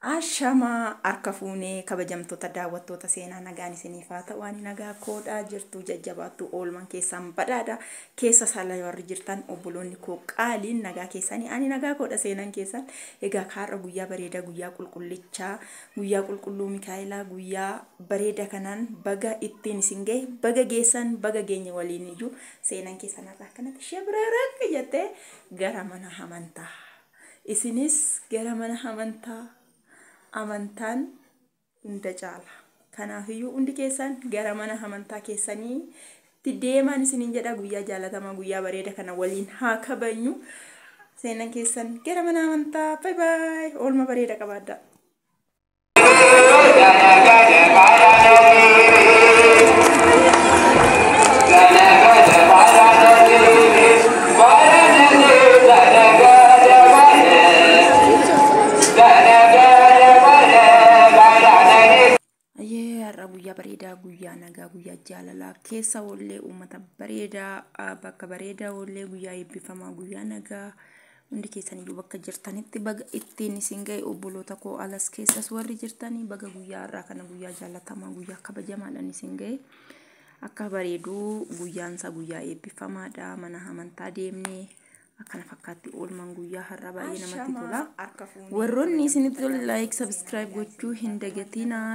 Ashama harka fuune kabajamtoota daawwattoota seenaa nagaan isiniif haa ta'u ani nagaa koodha jirtuu jajjabaattuu oolman keessaan badhaadha keessa saala warri jirtan obboloonni koo qaaliin nagaa keessanii ani nagaa koodha seenan keessan egaa kaarra guyyaa bareeda guyyaa qulqullichaa guyyaa qulqulluu mikaa'elaa guyyaa bareeda kanaan baga ittiin isin ga'e baga geessan baga geenye waliin iyyuu seenan keessan har'a akkanatti shebreerak jettee gara mana amantaa Isinis gara mana amantaa amantaan hunda caala. Kanaafiyyuu hundi keessan gara mana amantaa keessanii itti deemaan isiniin jedha guyyaa jaalatamaa guyyaa bareeda kana waliin haa kabajnu. Seenan keessan gara mana amantaa. Bye bye. Oolma bareeda qabaadhaa. Ayyee har'a guyyaa bareedaa guyyaa nagaa guyyaa jaalalaa keessa oollee uummata bareedaa ah, bakka bareedaa oollee guyyaa eebbifamaa guyyaa nagaa Hundi keessaniyyuu bakka jirtanitti baga ittiin isin ga'e obboloota koo alas keessas warri jirtanii baga guyyaa har'aa kana guyyaa jaalatamaa guyyaa kabajamaadhaan isin ga'e. Akka bareeduu guyyaan isaa guyyaa eebbifamaadha mana amantaa deemnee akkana fakkaatti oolman guyyaa har'aa baay'ee namatti tola. Warroonni isinitti tola like subscribe gochuu hin dagatinaa.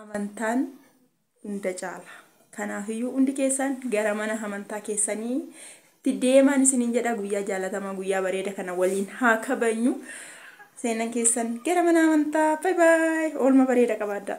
Amantaan hunda caala. Kanaafiyyuu hundi keessan gara mana amantaa keessanii itti deemaan isiniin jedha guyyaa jaalatamaa guyyaa bareeda kana waliin haa kabajnu. Seenan keessan gara mana amantaa. Bye bye. Oolma bareeda qabaadhaa.